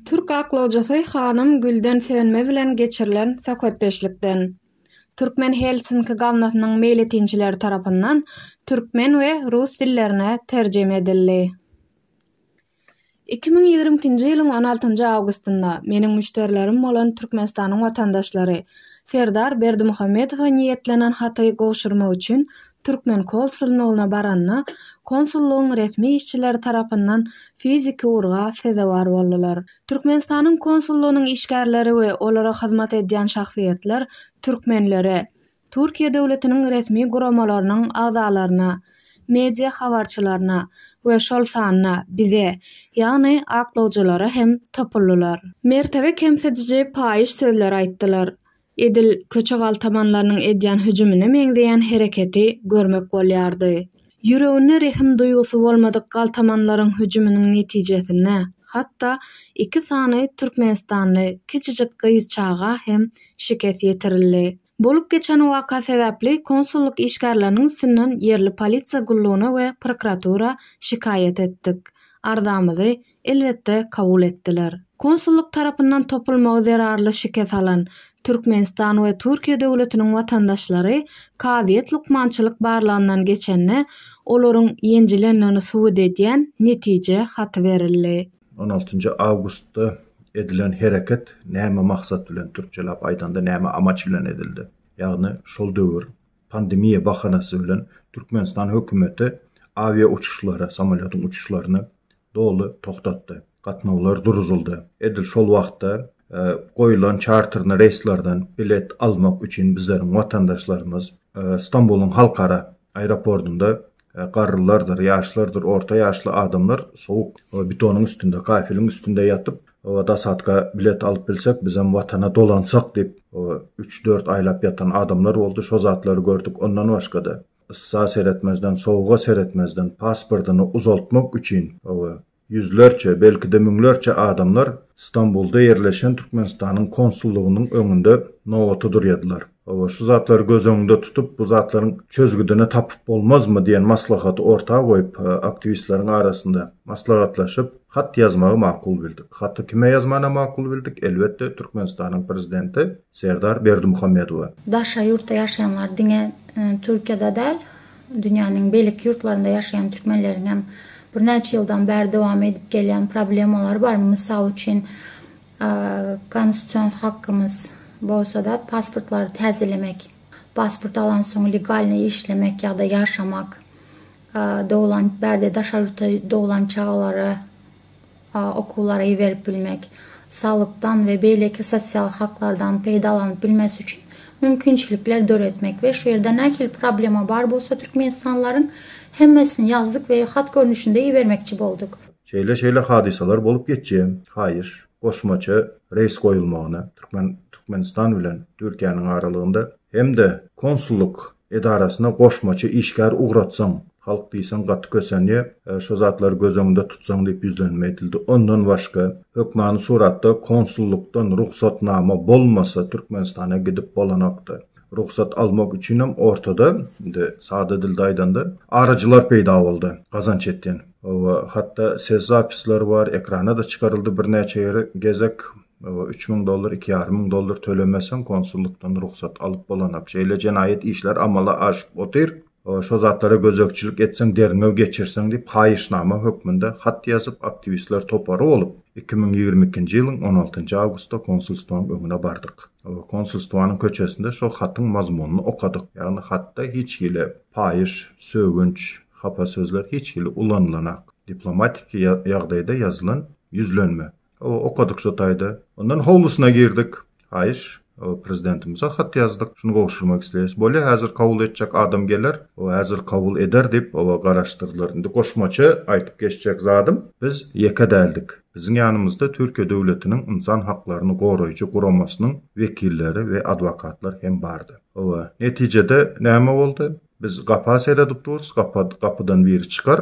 Türk aklawjysy hanym Gülden Sönmez bilen geçirilen söhbetdeşlikden Türkmen Helsinki gaznasynyň meýletinçileri tarapyndan türkmen we rus dillerine terjime edildi. Iki müň ýigrimi ikinji ýylyň on altynjy awgustynda meniň müşderilerim bolan Türkmenistanyň watandaşlary Serdar Berdimuhamedowa niýetlenen haty gowşurmak üçin türkmen konsulnygyna baranda, konsullygyň resmi işçileri tarapyndan fiziki urga sezewar boldular. Türkmenistanyň konsullygynyň işgärleri we olara hyzmat edýän şahsyýetler türkmenlere, Türkiýe döwletiniň resmi guramalarynyň agzalaryna, media habarçylaryna we şol sanda bize, ýagny aklawjylara hem topuldylar. Mertebe kemsidiji paýyş sözler aýtdylar. Edil köçe galtamanlarynyň edýän hüjümine meňzeýän hereketi görmek bolýardy. Ýüreginde rehim duýgusy bolmadyk galtamanlaryň hüjüminiň netijesinde hatda iki sany türkmenistanly kiçijik gyz çaga hem şikes ýetirildi. Bolup geçen waka sebäpli konsullyk işgärleriniň üstünden ýerli polisiýa gullugyna we prokuratura şikaýat etdik. Arzamyzy, elbetde, kabul etdiler. Konsullyk tarapyndan topulmagy zerarly şikes alan Türkmenistan we Türkiýe döwletiniň watandaşlary kazyýet lukmançylyk barlagyndan geçende olaryň ýenjilendigini subut edýän netije haty berildi. On altynjy awgustda edilen hereket näme maksat bilen, türkçeläp aýdanda näme amaç bilen edildi? Ýagny şol döwür pandemiýa bahanasy bilen Türkmenistan hökümeti awia uçuşlary, samolýotyň uçuşlaryny doly togtatdy. Gatnawlar duruzyldy. Edil şol wagtda goýlan çarterni reýslerden bilet almak üçin bizleriň watandaşlarymyz Stambulyň halkara aeropordynda Garrylardyr, ýaşlardyr, orta ýaşly adamlar sowuk betonyň üstünde, kafeliň üstünde ýatyp, Dasatka bilet alyp bilsek, bizem Watana dolansak diýip, üç-dört aýlap ýatan adamlar boldy. Şo zatlary gördük. Ondan başga-da, yssa seretmezden, sowuga seretmezden, pasportyny uzaltmak üçin, Ýüzlerçe, belki-de müňlerçe adamlar Stambulda ýerleşen Türkmenistanyň konsullygynyň öňünde nobata durýadylar. Hawa, şu zatlary göz öňünde tutup, bu zatlaryň çözgüdini tapyp bolmazmy diýen maslahaty orta goýup, aktiwistleriň arasynda maslahatlaşyp, hat ýazmagy makul bildik. Haty kime ýazmana makul bildik? Elbetde, Türkmenistanyň prezidenti Serdar Berdimuhamedowa. Daşary ýurtda ýaşaýanlar diňe Türkiýede däl, dünýäniň beýleki ýurtlarynda ýaşaýan türkmenleriň hem birnäçe ýyldan bäri dowam edip gelýän problemalary bar. Mysal üçin, konstitusion hakymyz bolsa-da pasportlary täzelemek, pasport alansoň legalnyý işlemek ýa-da ýaşamak, doglan bärde daşary ýurtda doglan çagalara, okuwlara iberip bilmek, salgytdan we beýleki sosial haklardan peýdalanyp bilmesi üçin mümkinçilikler döretmek we şu ýerde nähili problema bar bolsa türkmenistanlylaryň hemmesini ýazdyk we hat görnüşinde ibermekçi bolduk. Şeýle şeýle hadysalar bolup geçýär. Haýyş, goşmaça reýs goýulmagyny, Türkmen Türkmenistan bilen Türkiýäniň aralygynda hem-de konsullyk edarasyna goşmaça işgär ugratsaň, halk diýseň gaty kösenýär, şo zatlary göz öňünde tutsaň diýip ýüzlenme edildi. Ondan başga, hökmany suratda konsullykdan rugsatnama bolmasa Türkmenistana gidip bolanokdy. Rugsat almak üçinem ortada, indi sada dilde aýdanda, aryjylar peýda boldy, gazanç etýän. Hawa, hatda ses zapisleri bar, ekrana-da çykaryldy birnäçe gezek. Üç müň dollar, iki ýarym müň dollar tölemeseň, konsullykdan rugsat alyp bolanak. Şeýle jenaýat işler amala aşyp otyr. Şo zatlara gözegçilik etseň, derňew geçirseň diýip, haýyşnama hökmünde hat ýazyp, aktiwistler topary bolup, iki müň ýigrimi ikinji ýylyň on altynjy awgustda konsulstwaň öňüne bardyk. Konsulstwanyň köçesinde şo hatyň mazmunyny okadyk. Ýagny hatda hiç hili paýyş, sögünç, hapa sözler hiç hili ulanylanak. Diplomatiki ýagdaýda ýazylan ýüzlenme. Okadyk şo taýda. Ondan howlusyna girdik. Haýyş. Prezidentimize hat ýazdyk. Şuny gowşurmak isleýäs. Bolýa, häzir kabul etjek adam geler. Häzir kabul eder diýip, garaşdyrdylar. Indi goşmaça aýdyp geçjek zadym, biz ýeke däldik. Biziň ýanymyzda Türkiýe döwletiniň ynsan haklaryny goraýjy guramasynyň wekilleri we adwokatlar hem bardy. Hawa, netijede näme boldy? Biz gapa seredip durus, gapydan biri çykar,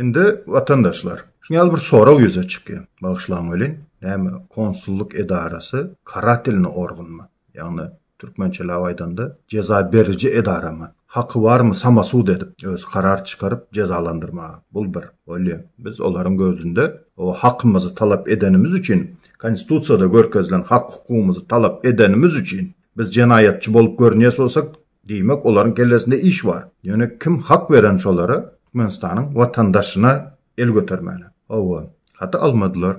Indi watandaşlar, şuny ýaly bir sorag ýüze çykýar. Bagyşlaň welin, näme konsullyk edarasy karatilny organmy? Ýagny türkmençeläp aýdanda jeza beriji edaramy? Haky barmy samasud edip, özi karar çykaryp jezalandyrmaga? Bul bir. Bolýa. Biz olaryň gözünde o hakymyzy talap edenimiz üçin, konstitusiýada görkezilen hak-hukugymyzy talap edenimiz üçin biz jenaýatçy bolup görünýäs bolsak, Diýmek, olaryň kellesinde iş bar. Ýöne kim hak beren şolara Türkmenistanyň watandaşyna el götermäne? Hawa, haty almadylar.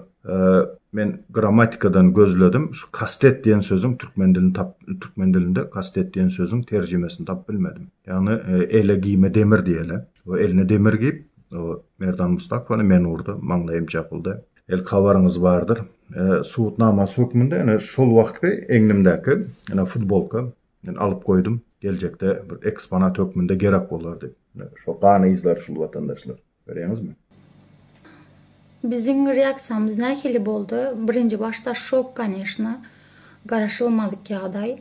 Men grammatikadan gözledim, şu kastet diýen sözüň türkmen dilini tap, türkmen dilinde kastet diýen sözüň terjimesini tapyp bilmedim. Ýagny ele giýme demir diýeli. O eline demir giýip, o Merdan Mustakowany men urdy, maňlaýym çapyldy. El habaryňyz bardyr. Subutnamasy hökmünde ene şol wagtky egnimdäki ene futbolka Men alyp goýdum, geljekde bir eksponat hökmünde gerek bolar diýip. Şo gan yzlary şul watandaşlar. Görýäňizmi? Biziň reaksiýamyz nähili boldy? Birinji başda şok koneşna, garaşylmadyk ýagdaý.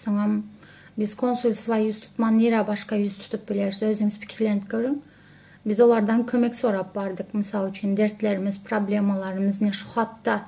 Soňam biz konsulstwa ýüz tutman nirä başga ýüz tutup bileris, özüňiz pikirlenip görüň. Biz olardan kömek sorap bardyk, mysal üçin dertlerimiz, problemalarymyz ine şu hatda,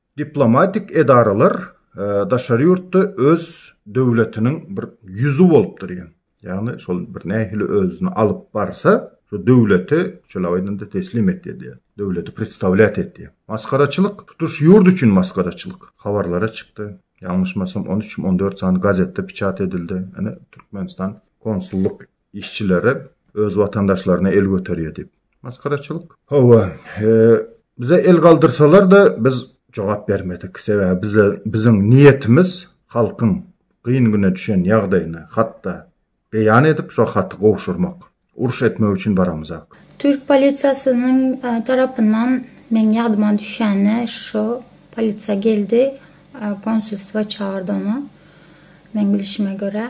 Diplomatik edaralar daşary ýurtda öz döwletiniň bir ýüzi bolup durýan. Ýagny şol bir nähili özüni alyp barsa, şu döwleti şeýle aýdanda teslim etýär diýýär. Döwleti predstawlýat etýär. Masgaraçylyk, tutuş ýurt üçin masgaraçylyk. Habarlara çykdy. Ýalňyşmasam on üç, on dört sany gazetde piçat edildi. Ine Türkmenistan konsullyk Işçilere öz watandaşlaryna el göterýär diýip. Maskaraçylyk. Hawa, bize el galdyrsalar-da biz jogap bermedik. Sebäbi bize biziň niýetimiz halkyň gyn güne düşen ýagdaýyny hatda beýan edip şo haty gowşurmak. Uruş etmek üçin baramyzak. Türk polisiýasynyň tarapyndan meň ýadyma düşende şo polisiýa geldi, konsulstwa çagyrdy ony. Meň bilişime görä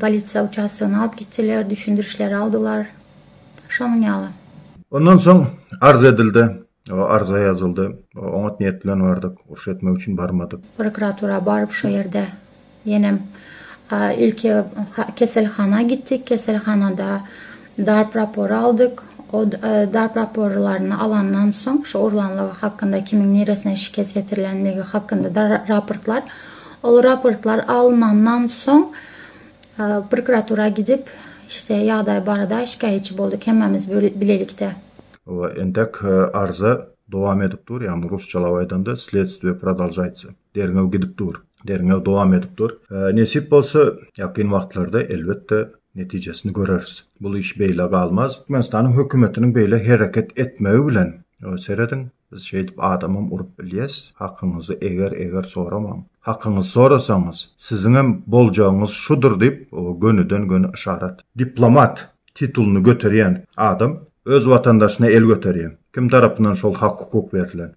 Polisiýa uçastogyna alyp gitdiler, düşündirişleri aldylar. Şonuň ýaly. Ondan soň arz edildi. Arza ýazyldy. Oňat niýet bilen bardyk. Uruş etmek üçin barmadyk. Prokuratura baryp şo ýerde ýenem ilki keselhana gitdik. Keselhanada Darp rapory aldyk. O darp raporlaryny alandan soň, şu urlanlygy hakynda, kimiň niresine şikes ýetirilendigi hakynda raportlar, ol raportlar alynandan soň prokuratura gidip, işte, ýagdaý barada şikaýatçy bolduk hemmämiz bilelikde. We entek arza dowam edip dur, ýagny rusçalap aýdanda, Sledstwie prodolžaýtsa. Derňew gidip dur. Derňew dowam edip dur. Nesip bolsa, ýakyn wagtlarda, elbetde, netijesini göreris. Bul iş beýle galmaz. Türkmenistanyň hökümetiniň beýle hereket etmegi bilen, serediň, biz şeýdip adamam urup bilýäs. Hakyňyzy eger-eger soramaň. Hakyňyzy sorasaňyz, siziňem boljagyňyz şudur diýip, gönüden-göni yşarat. Diplomat titulyny göterýän adam öz watandaşyna el göterýär. Kim tarapyndan şol hak-hukuk berlen?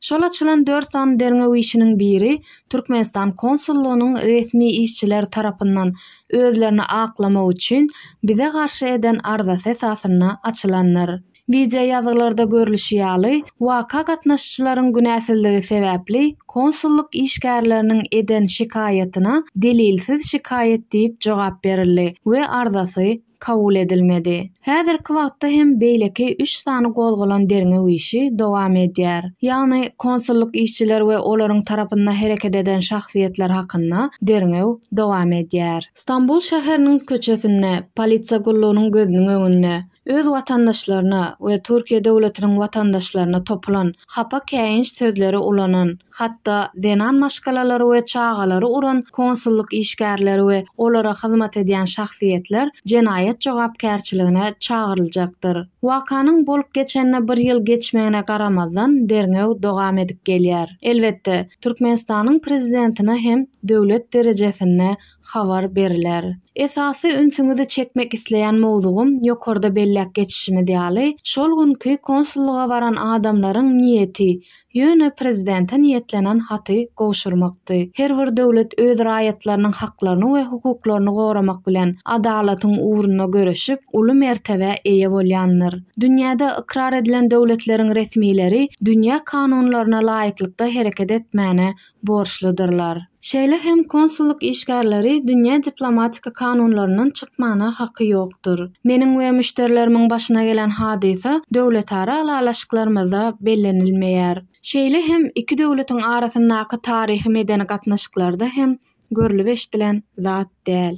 Şol açylan dört sany derňew işiniň biri Türkmenistan konsullygynyň resmi işçiler tarapyndan özlerini aklamak üçin bize garşy eden arzasy esasynda açylandyr. Wideoýazgylarda görlüşi ýaly, waka gatnaşyjylaryň günäsizligi sebäpli konsullyk işgärleriniň eden şikaýatyna delilsiz şikaýat diýip jogap berildi we arzasy kabul edilmedi. Häzirki wagtda hem beýleki üç sany gozgalan derňew işi dowam edýär. Ýagny konsullyk işçiler we olaryň tarapynda hereket eden şahsyýetler hakynda derňew dowam edýär. Stambul şäheriniň köçesinde, polisiýa gullugynyň gözüniň öňünde, öz watandaşlaryna we Türkiýe döwletiniň watandaşlaryna topulan, hapa käýinç sözleri ulanan, Hatda zenan maşgalalary we çagalary uran konsullyk işgärleri we olara hyzmat edýän şahsyýetler jenaýat jogapkärçiligine çagyryljakdyr. Wakanyň bolup geçenine bir ýyl geçmegine garamazdan, derňew dowam edip gelýär. Elbetde, Türkmenistanyň prezidentine hem döwlet derejesinde habar beriler. Esasy ünsüňizi çekmek isleýän mowzugym ýokarda belläp geçişimiz ýaly, şol günki konsullyga baran adamlaryň niýeti, ýöne prezidente niýetlenen haty gowşurmakdy. Her bir döwlet öz raýatlarynyň haklaryny we hukuklaryny goramak bilen, adalatyň ugrunda göreşip, uly mertebä eýe bolýandyr. Dünýäde ykrar edilen döwletleriň resmileri dünýä kanunlaryna laýyklykda hereket etmäne borçludyrlar. Şeýle hem konsullyk işgärleri dünýä diplomatik kanunlaryndan çykmana haky ýokdur. Meniň we müşderilerimiň başyna gelen hadysa döwletara ylalaşyklarymyzda bellenilmeýär. Şeýle hem iki döwletiň arasyndaky taryhy-medeni gatnaşyklarda hem görlüp-eşdilen zat. däl.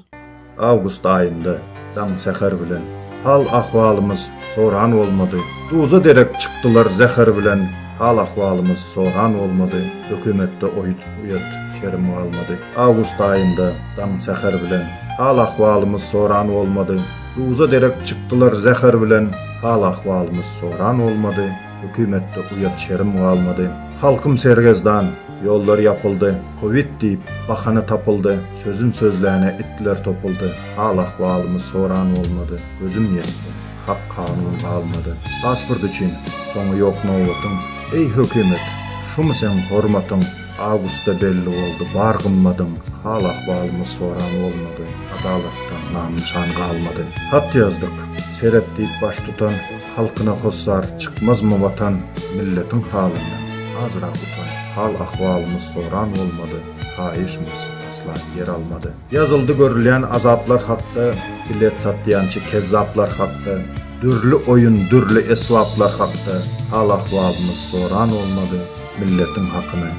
Awgust aýynda daň säher bilen hal ahwalymyz soran bolmady duza derek çykdylar zäher bilen hal ahwalymyz soran bolmady hökümetde oýut uýat kerim galmady awgust aýynda daň säher bilen hal ahwalymyz soran bolmady duza derek çykdylar zäher bilen hal ahwalymyz soran bolmady hökümetde uýat şerim galmady halkym sergezdan ýollar ýapyldy kowid diýip bahana tapyldy Sözüm sözläne itler topuldy, hal-ahwalymy soran bolmady, gözüm ýetdi, hak kanun galmady. Pasport üçin, soňy ýok nobatyň, eý hökümet, şumy seň hormatyň, awgustda belli boldy bar gymmadyň, hal-ahwalymy soran bolmady, adalatdan nam-nyşan galmady. Hat ýazdyk, seret diýip baştutan, halkyna hossar, çykmazmy watan, milletiň halyndan, azrak utan, hal-ahwalymy soran bolmady. Haýyşmys, Aslan ýer almady. Ýazyldy görülýän azaplar hakda, Bilet satýançy kezzaplar hakda, Dürli oýun, dürli esbaplar hakda, Hal-ahwalymyz soran bolmady, Milletiň hakyny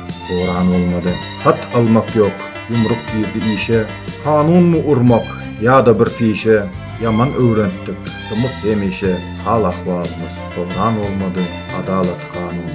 oran bolmady. Hat almak ýok, ýumruk girdi işe, Kanunmy urmak, ýa-da bir pişe, Ýaman öwrentdik, dymyk hemişe, Hal-ahwalymyz soran bolmady, Adalat-kanun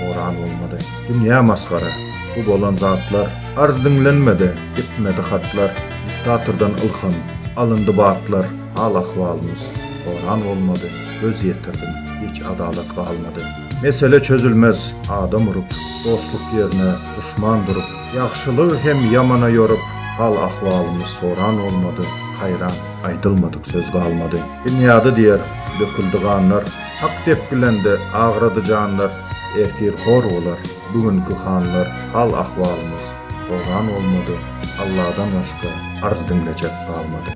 oran bolmady. Dünýä masgara, bu bolan zatlar, Arz diňlenmedi, ýetmedi hatlar, Diktatordan ylham, alyndy batlar, Hal-ahwalymyz soran bolmady, Göz ýetirdim, hiç adalat galmady. Mesele çözülmez, adam urup, Dostluk ýerine duşman durup, Ýagşylygy hem ýamana ýorup, Hal-ahwalymyz soran bolmady, Haýran, aýdylmadyk söz galmady. Binýady diýer, döküldi ganlar, Hak depgilende, agrady janlar, Ertir hor bolar bu günki hanlar hal ahwalymyz horan bolmady Alladan başga arz diňlejek galmady.